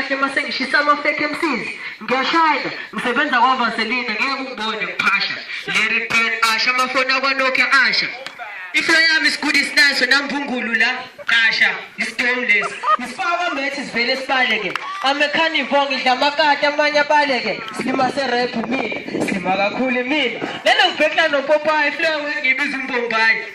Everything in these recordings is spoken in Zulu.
kahle uma sengishisa ama-fake mcs ngiyashayela ngisebenza kwavaselina ngeke ungibone ngiphasha larry ben asha amafoni akwanokia asha iflo yami isigudi sinaso namphungulu la qasha isitomu lesi ngifaka amethi sivele sibaleke amekhanivo ngidla amakati amanye abaleke silima serephu mina silima kakhulu mina nalokubhekla nopopayi iflo yangu engibiza umbombayi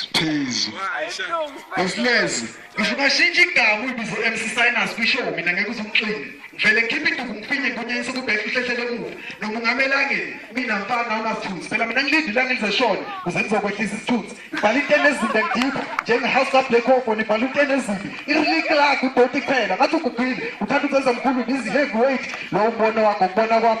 Siphizo. Asilezi. Ngisho ungashintsha igama uyibize MC Sinus kwisho mina ngeke uzumxini. Ngivele ngikhiphe induku ngiphinye ngibunyise kubheka uhlehlele kude. Noma ungamelangeni mina mfana unasithunzi. Phela mina ngilinde ilanga lizeshona kuze ngizokwehlisa isithunzi. Ngibhala into enezinto engidipha njenge house up black hole ngibhala into enezinto. Irili clock udoti kuphela ngathi ugugile. Uthanda ukwenza mkhulu busy heavyweight. Lo mbono wakho kubona kwami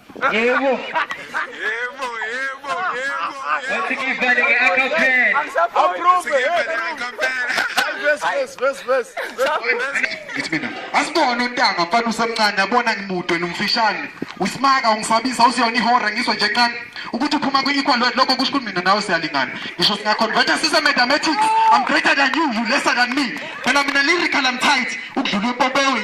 Yebo. Yebo, yebo, yebo. Wathi ngivale nge-acapella. Approve. Ngivale nge-acapella. Yes, yes, yes, yes. Ngithi mina, asibone untanga mfana usemncane yabona ngimude nomfishane. Usimaka ungisabisa usiyona ihora ngizwe nje kancane ukuthi uphuma kwi-equal word lokho kusho ukuthi mina nawe siyalingana. Ngisho singaconverta sise mathematics. I'm greater than you, you lesser than me. Phela mina lyrical I'm tight ukudlula upopewe.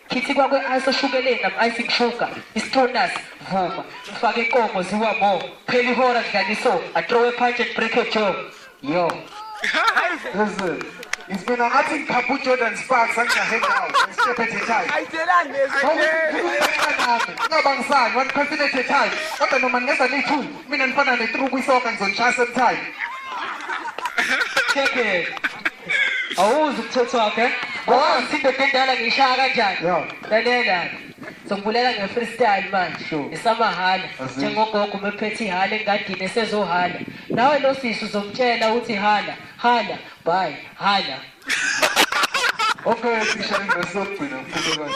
Kithi kwakwe ice oshukeleni nam icing sugar istonus vuma mfake inkomo ziwa mo phela ihora dlaniso atrowe punch and break a jaw yo Listen, it's been angathi ngiphapha uJordan Sparks angijahe ndawo ngisitshephe the time. Ayithelani lezi. Ungabangisani one person at a time. Kodwa noma ngingeza niyi-two mina nifana ne-three kwisoka ngizonishaya same time. Check it. awuzi umthetho wakhe awazi indoda endala ngiyishaya kanjani lalela sokubulela nge-freestyle manje esamahhala njengogogo umephethe ihala engadini esezohala nawe lo sisi uzomtshela ukuthi hala hala bye hala okay sisha ingosokugcina mfundekazi